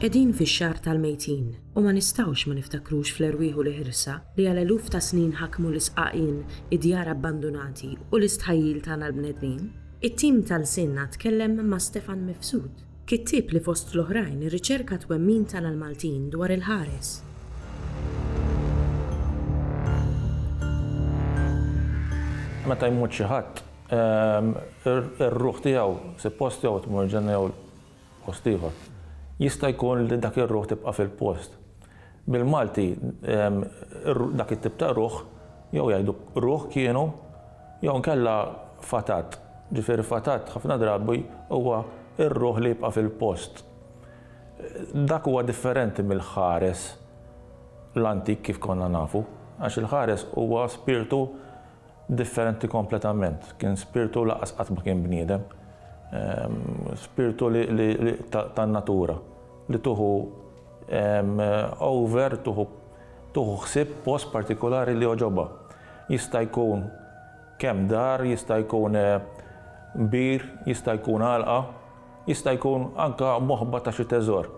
Qegħdin fix-xahar tal-mejtin u ma nistgħux ma niftakrux fl-erwieħ u l-ħirsa li għal eluf ta' snin ħakmu l-isqaqien, id-djar abbandunati u l-istħajjil tagħna l-bnedmin. It-tim ta' Lsienna tkellem ma' Stefan Mifsud, kittieb li fost l-oħrajn irriċerka t-twemmin tagħna l-Maltin dwar il-ħares. Meta jmut xi ħadd, ir-ruħ tiegħu suppost jew tmur l-Ġenna jew Post ieħor. Jista' jkun li dak ir-ruħ tibqa' fil-post. Bil-Malti dak it-tip ta' ruħ jew jgħidu ruħ kienu jew inkella fatat. Ġifieri fatat ħafna drabi huwa r-ruħ li jibqa' fil-post. Dak huwa differenti mill-ħares l-antik kif konna nafu għax il-ħares huwa spirtu Differenti kompletament. Kien spirtu lanqas qatt ma kien bniedem. Spirtu tan-natura li tuħu over, tuħu ħsieb post partikulari li jogħġobha. Jista' jkun kemm dar, jista' jkun bir, jista' jkun għalqa, jista' jkun anke moħba ta' xi teżor.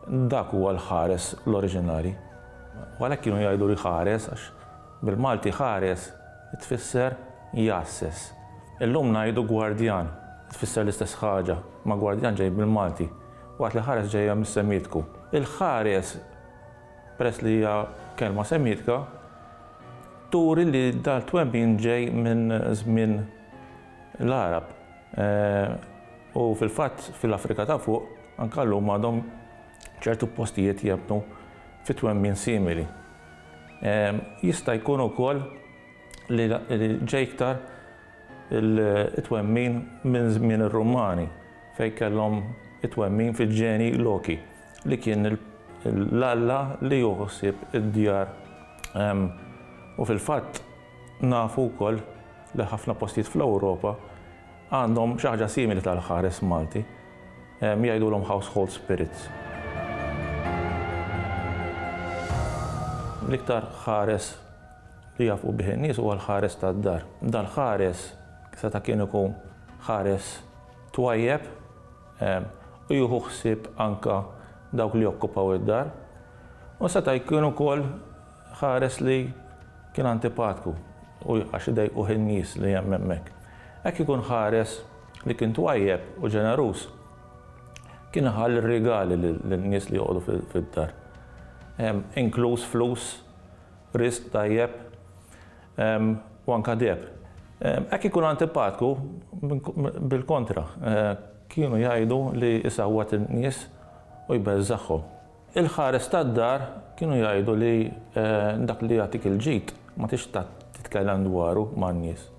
Dak huwa l-ħares l-oriġinali. U għalhekk kienu jgħidulu jħares għax Bil-Malti ħares tfisser jgħasses. Illum ngħidu gwardjan, tfisser l-istess ħaġa, ma gwardjan ġej bil-Malti, waqt li ħares ġejja mis-Semitku. Il-ħares, peress li hija kelma Semitka, turi li dal-twemmin ġej minn żmien l-Għarab u fil-fatt fil-Afrika ta' Fuq anke llum għadhom ċertu postijiet jemmnu fi twemmin simili. Jista' jkun ukoll li ġej iktar it-twemmin minn żmien ir-Rumani fejn kellhom it-twemmin fil-ġeni Loki li kien l-alla li jieħu ħsieb id-djar u fil-fatt nafu wkoll li ħafna postijiet fl-Ewropa għandhom xi ħaġa simili tal-ħares Malti. Jgħidulhom household spirits. L-iktar ħares li jafqu bih in-nies huwa l-ħares tad-dar. Dal-ħares seta' kien ikun ħares twajjeb u jieħu ħsieb anke dawk li jokkupaw id-dar u seta' jkun ukoll ħares li kien antipatku u għax idejquh in-nies li hemm hemmhekk. Hekk ikun ħares. li kien twajjeb u ġeneruż, kien iħalli rigali lin-nies li joqogħdu fid-dar, inkluż flus, risq tajjeb, u anke deheb. Hekk ikun antipatku, bil-kontra, kienu jgħidu li jsawwat in-nies u jbeżżagħhom. Il-ħares tad-dar kienu jgħidu li dak li jagħtik il-ġid ma tridx titkellem dwaru man-nies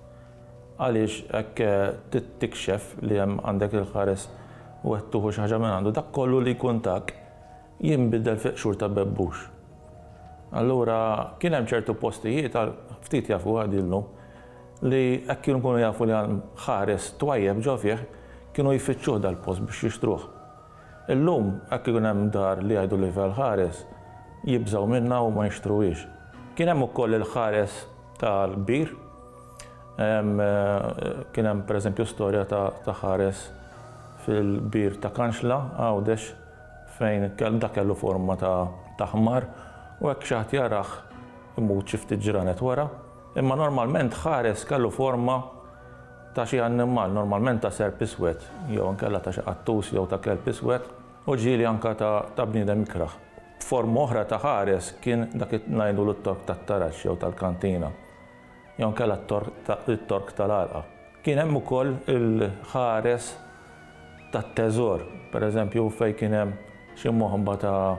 għaliex hekk tikxef li hemm għandek il-ħares u qed tuħu xi ħaġa minn għandu. Dak kollu li jkun tak jinbidel fi qxur ta' bebbux. Allura kien hemm ċertu postijiet għal ftit jafu għad ilhom li hekk kienu jkunu jafu li hemm ħares twajjeb ġo fih kienu jfittxuh dal-post biex jixtruh. Illum hekk ikun hemm dar li jgħidu li fiha l-ħares, jibżgħu minnha u ma jixtruhiex. Kien hemm ukoll il-ħares tal-kbir. Kien hemm pereżempju storja ta' ħares fil-kbir ta' Kanxla, Għawdex, fejn dak kellu forma ta' ħmar u hekk xi ħadd jarah imut xi ftit ġranet wara. Imma normalment ħares kellu forma ta' xi annimal, normalment ta' serp iswed, jew inkella ta' xi qattus jew ta' kelb iswed, u ġieli anke ta' bniedem ikrah. Forma oħra ta' ħares kien dak li ngħidulu t-tork tat-taraġ jew tal-kantina, jew inkella t-tork tal-għalqa. Kien hemm ukoll il-ħares tat-teżor, pereżempju fejn kien hemm xi moħba ta'.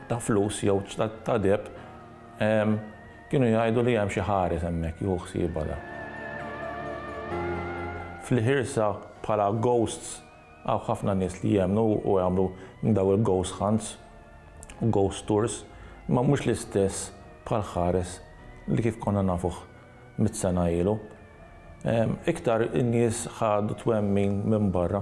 ta' flus jew ta' deheb, kienu jgħidu li hemm xi ħares hemmhekk jieħu ħsiebha da. Fl-ħirsa bħala ghosts hawn ħafna nies li jemmnu u jagħmlu dawn il-ghost hunts u ghost tours, imma mhux l-istess bħall-ħares li kif konna nafuh mitt sena ilu. Iktar in-nies ħadu twemmin minn barra.